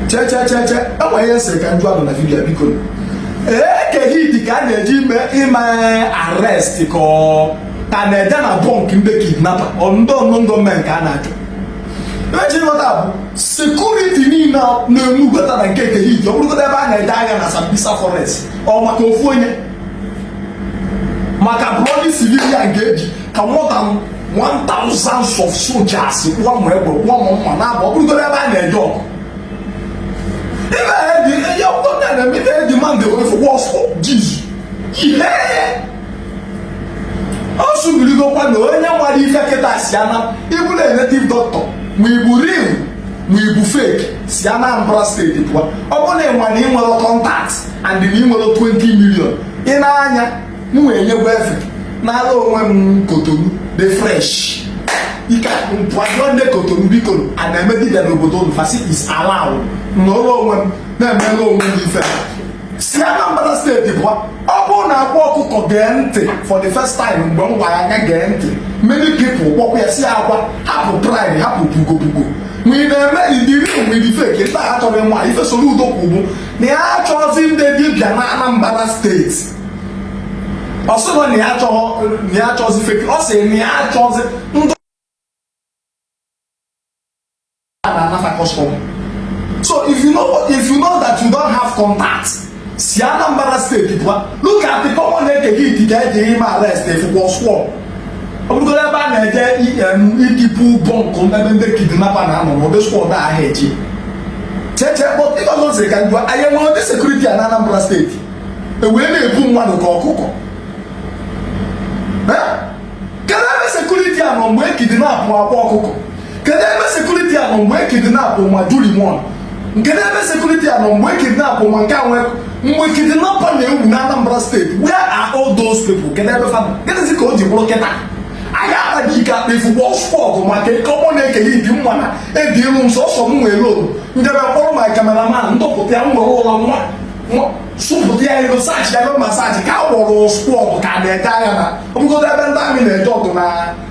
chechecheche e nwe ihe m sịrị ka m jụọ nụ na vidiyo biko Eke Hit ka a na-eje ime ime arrest ka ọ ka a na-eje na bọnk ndị kidnapa ndị unknown gunmen ka a na-achọ eji weta bụ sekuriti niile na-enugota na nke Eke Hit ọ bụrụgodo ebe a na-eje agha na sambisa forest ọ maka ofu onye maka bloody civilian ka eji ka more than 1000 of soldiers kwụọ ma egbe kwụọ ma mma na abụ ọ bụrụgoro ebe a na-eje ọgụ ihe demand was for Jesus ihe ọ sụbirigokwa na onye mara ife kịta si Ana ị bụrụ native doctor ma ị bụ real ma ị bụ fake si Anambra steeti pụọ ọ bụrụ na ị nwerọ ị nwerọ kọntaktị and na ị nwerọ 20 million ị na-anya m wee nyegwa efe n'ala onwe m kotonu dị fresh ekenekwa m ndị kotonu biko a na-eme dibịa n'obodo unu fasi is allowed na ụlọ onwe m na-emela onwe m ife si Anambra steeti pụọ ọ bụrụ na akwa ọkụkọ gee ntị for the first time mgbe m gwara ya gee ntị many people kpọkwa ya si akwa hapụ pride hapụ pugopugo ma ị na-eme dị real onwe dị fake ndị a achọrọ ịma ife Soludo kwuru bụ na ya achọghịzi ndị dibịa na Anambra steeti ọ sịghị na ya achọghị na ya achọghịzi fake ọ sị na ya achọghịzi ndị a na-anafa kọstọm so if you know if you know that you don't have contact si Anambra steeti pụọ look at the common Eke Hit ka eji ime arrest ị fụkwa squad ọ bụrụgoro ebe a na-eje ikipu bọnkụ ebe ndị kidnapa na-anọ n'ụdị skwọd ahụ eji che ife ọzọ m sịrị ka m jụọ anyị nwere ndị sekuriti a na Anambra steeti e wee na-egbu mmadụ ka ọkụkọ kedu ebe sekuriti a nọ mgbe e kidnapụ akwa ọkụkọ kedu ebe sekuriti a nọ mgbe e kidnapụ ma juri mọn kedu ebe sekuriti a nọ mgbe kidnapụ ma nke a nwee mgbe kidnapa na-ewu na Anambra steeti where are all those people kedu ebe fa nọ gịnịzi ka o ji bụrụ kịta anyị akpaghị ike akpa ifu bọs fọgụ maka common Eke Hit mma na edi room sọsọ m nwere oru ndebe kpọrọ ma kameraman dọpụta ya m nwere ụlọ nwa sụpụta ya ego sachi ya ego masaji ka a gwọrọ spọgụ ka a na-eje agha na ọ bụgodo ebe ndị amị na-eje ọgụ na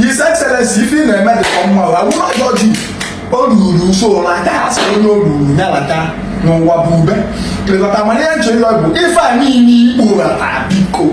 His Excellency ife ị na-eme dị ka mma ha wụrụ ọjọ ji o ruru nso na aka ha sị onye o ruru ya lachaa n'ụwa bụ ube lekọta mana ihe m che ịlọ bụ ife a niile ị kpọrọ taa biko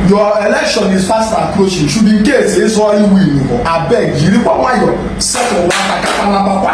your election is fast approaching should in case ị zọọ ị win ị nụgo abeg jirikwa nwayọ setụl fa ka fa nabakwa